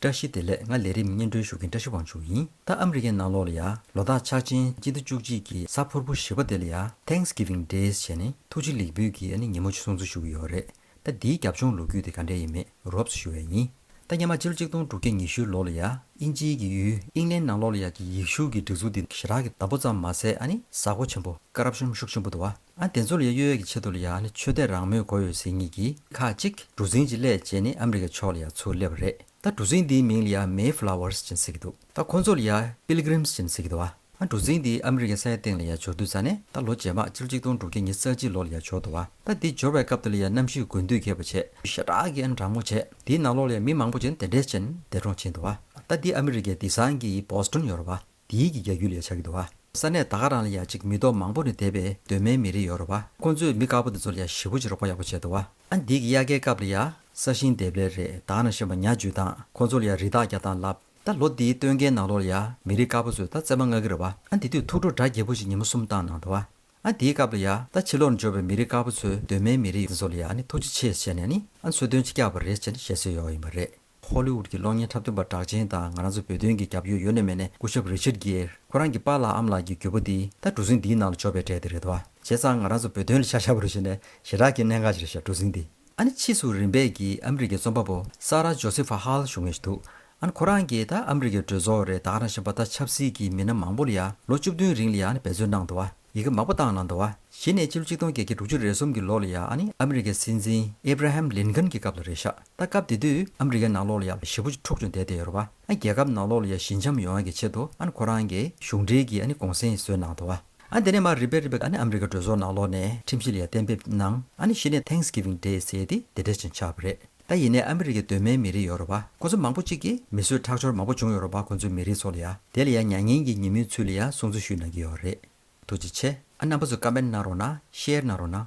བཀྲ་ཤིས་བདེ་ལེགས་ང་ལས་རིམ་སྙན་སྒྲོན་ཞུ་མཁན་བཀྲ་ཤིས་དབང་ཕྱུག་ཡིན་ད་ཨ་མི་རི་ཀའི་ནང་ལོགས་ལ་ཡ་ལོ་དག་ཕྱག་ཆེན་སྤྱི་ཟླ་བཅུ་གཅིག་གི་གཟའ་ཕུར་བུ་བཞི་བ་དེ་ལ་ཡ Thanks Giving Days བྱས་ནས་ཐུགས་རྗེ་ལེགས་འབུལ་གྱིས་ཨ་ནི་ཉིན་མོ་གསུང་ཚུལ་ཞུ་གི་ཡོད་རེད་ད་འདིའི་རྒྱབ་ལྗོངས་ལོ་རྒྱུས་དེ་ག་འདྲས་ཡིན་མེད་རོབ་ས་ཞུ་བས་ཡིན་ད་སྙེ་མ་སྤྱི་ལོ་གཅིག་སྟོང་དྲུག་བརྒྱ་ཉི་ཤུའི་ལོ་ལ་ཡ་ཨིན་ཇིའི་གི་ཡུལ་ཨིང་ལན་ནང་ལོགས་ལ་ཡ་གི་ཡིག་གཞུག་གི་སྒྲིག་འཛུགས་དེ་ཞི་རག་གི་བདག་པོ་ཙམ་མ་ཟད་ཨ་ནི་གཟའ་འཁོར་ཆེན་པོ་ཀ་རབ་གཤོམ་ཤུགས་ཆེན་པོ་དུ་བ། ཨ་དེ་ཚོ་ལ་ཡ་གཡོལ་གྱི་ཆེད་དུ་ལ་ཡ་ནི་ཆོས་དད་རང་མོས་གོ་ཡོད་ཟེར་ངེས་ཀྱི་ཁ་ཅིག་གྲུ་གཟིངས་ཀྱི་ལས་བྱེད་ནི་ཨ་མི་རི་ཀའི་ཕྱོགས་ལ་ཡ་ཚུར་སླེབས་པ་རེད་ད་གྲུ་གཟིངས་འདིའི་མིང་ལ་ཡ་མེ་ཕི་ལ་ཝར་ཅན་ཟེར་གྱི་འདུག་ད་ཁོ་ཚོ་ལ་ཡ་པིལ་གི་རིམས་ཅན་ཟེར་གྱི་འདུག་ཨ་གྲུ་གཟིངས་འདི་ཨ་མི་རི་ཀའི་ས་ཡ་སྟེང་ལ་ཡ་འབྱོར་དུས་ཙཱ་ནས་ད་ལོ་རྗེས་མ་སྤྱི་ལོ་ཆིག་སྟོང་དྲུག་བརྒྱ་ཉིས་རྩ་གཅིག་ལོ་ལ་ཡ་འབྱོར་འདུག་ཨ་ད་འདི་འབྱོར་བའི་སྐབས་དེ་ལ་ཡ་གནམ་གཤིས་དགུན་དུས་ཁེབས་པ་ཆེ་ཤ་སྟག་གི་ཨ་མི་དྲང་མོ་བྱས་འདིའི་ནང་ལོགས་ལ་ཡ་མི་མང་པོ་ཅན་དེ་འདྲས་ཅན་འདས་གྲོངས་ཕྱིན་འདུག་ཨ་ད་འདི་ཨ་མི་རི་ཀའི་འདི་སངས་ཀྱི་པོ་སི་ཏོན་ཡོ་རོབ་ཨ། འདིའི་གི་རྒྱ་རྒྱུད་ལས་བྱ་གི་འདུག་བ། ས་གནས་ད་ག་རང་ལ་ཡང་ཅིག་མི་རྡོ་མང་པོ་ནས་དད་པའི་གདོད་མའི་མི་རེ་ཡོད་རོ་བ། ཁོང་ཚོས་མི་དཀར་པོ་དེ་ཚོ་ལ་ཡང་ཞི་བོ་ཅིག་རོགས་པ་ཡག་པོ་བྱས་འདུག་བ། ཨ་འདིའི་གི་དབྱར་ཁའི་སྐབས་ལ་ཡང་ས་ཞིང་འདེབས་ལས་རེ་དང་ན་ཞེན་པ་ཉག་འཇུས་དང་ཁོང་ཚོ་ལ་ཡང་རི་དྭགས་རྒྱག་སྟངས་ལབ། ད་ལོ་འདིའི་སྟོན་ཁའི་ནང་ལོགས་ལ་ཡང་མི་རིགས་དཀར་པོ་ཚོས་ད་བརྩེ་མ་མངག་གི་རེད་བ། ཨ་འདི་དུས་ཐུགས་སྤྲོ་དགྲ་བགེགས་པོ་ཅིག་ཉིན་མོ་གསུམ་བཏང་གནང་འདུག་བ། ཨ་འདིའི་སྐབས་ལ་ཡང་ད་ཕྱི་ལོགས་ན་འབྱོར་བའི་མི་རིགས་དཀར་པོ་ཚོའི་གདོད་མའི་མི་རེ་འདི་ཚོ་ལ་ཡང་ནི་ཐུགས་རྗེ་ཆེ་བྱས་ནས་ནི་ཨ་འཚོལ་སྟོན་ཅིག་རྒྱག་པ་རེད་ཅེས་ནི་བཤད་སྲོལ་ཡོད་ཡིན་པ་རེད། ཧོ་ལི་ཝུད་ཀྱི་གློག་བརྙན་འཁྲབ་སྟོན་པ་གྲགས་ཅན་དང་ང་རང་ཚོ་བོད་དོན་གྱི་རྒྱབ་ཡོལ་ཡོལ་ནས་མེད་ནས་སྐུ་ཞབས་རེ་ཆིར་གྷེར་ཁོ་རང་གི་པཱ་ལགས་ཨམ་ལགས་ཀྱི་རྒྱུ་བོ་འདི་ད་གྲུ་གཟིངས་འདིའི་ནང་ལ་འཇོག་པའི་གྲས་དེ་རེད་དོ། བྱས་ཙང་ང་རང་ཚོ་བོད་དོན་ལ་ཤ་ཤ་བོ་རེ་བྱས་ནས་ཞེ་དྲག་གི་གནད་འགག་ཅིག་རེད་ཤག་གྲུ་གཟིངས་འདི། ཨ་ནི་ཕྱིས་སུ་རིམ་པས་ཀྱིས་ཨ་མི་རི་ཀའི་རྩོམ་པ་པོ་སཱ་ར་ཇོ་སི་ཧྥ་ཧཱལ་བཞུགས་ངེས་ཤིག་འདུག་ཨ་ནི་ཁོ་རང་གིས་ད་ཨ་མི་རི་ཀའི་གྲོས་ཚོགས་རེ་ད་ཨ་རང་བཞིན་པ་ད་ཆབ་སྲིད་ཀྱི་མི་སྣ་མང་པོ་ལ་ཡང་ལོ་བཅུ་བདུན་རིང་ལ་ཡང་ནི་འབད་རྩོལ་གནང་འདུག་ཨ། ཡི་གེ་མང་པོ་བཏང་ན་འདོ་བ། གཞི་ནས་སྤྱི་ལོ་ཆིག་སྟོང་བརྒྱད་བརྒྱ་དྲུག་ཅུ་རེ་གསུམ་གྱི་ལོ་ལ་ཡ་ཨ་ནི་ཨ་མི་རི་ཀའི་སྲིད་འཛིན་ཨེ་བྷ་ར་ཧེམ་ལིན་ཁན་གྱི་སྐབས་ལ་རེད་ཤག་ད་སྐབས་དེ་དུས་ཨ་མི་རི་ཀའི་ནང་ལོ་ལ་ཡ་བཞི་བོ་འཁྲུག་ཅུང་བསྡད་བསྡད་ཡོད་ར་བ་ཨ་རྒྱལ་ཁབ་ནང་ལོ་ལ་ཡ་བཞི་འཆམ་ཡོང་ཡ་གི་ཆེད་དུ་ཨ་ནི་ཁོ་རང་གི་གཞུང་འབྲེལ་གྱི་ཨ་ནི་གོང་སེང་བཟོས་གནང་འདོ་བ་ཨ་དེ་ནས་མར་རི་བེ་རི་བེ་ཨ་ནི་ཨ་མི་རི་ཀའི་གྲོས་ཚོགས་ནང་ལོ་ནས་ཁྲིམས་གཞི་ལ་ཡ་གཏན་འབེབས་གནང་ཨ་ནི་གཞི་ནས Thanksgiving Day ཟེར་ཏེ་དེ་འབྲེལ་ཅིང་ཆགས་པ་རེད། ད་ཡིན་ནའི་ཨ་མི་རི་ཀའི་གདོད་མའི་མི་རིགས་ཡོ་རོ་པ་ཁོ་ཚོ་མང་པོ་གཅིག་གིས་མི་གསོད་ཁྲག་སྦྱོར་མང་པོ་བྱུང་ཡོ་རོ་པ་ཁོ་ཚོའི་མི་རིགས་ཚོ་ལ་ཡ་དེ་ལ་ཡ་མྱ་ངན་གྱི་ཉིན་མོའི་ཚུལ་ལ་ཡ་སྲུང་བརྩི་ཞུས་གནང་གི་ཡོ་རེད། ཐུགས་རྗེ་ཆེ། ཨ་རྣམ་པ་ཚོ་ཀ་མེན་གནང་རོགས་གནང་ཤེར་གནང་རོགས་གནང།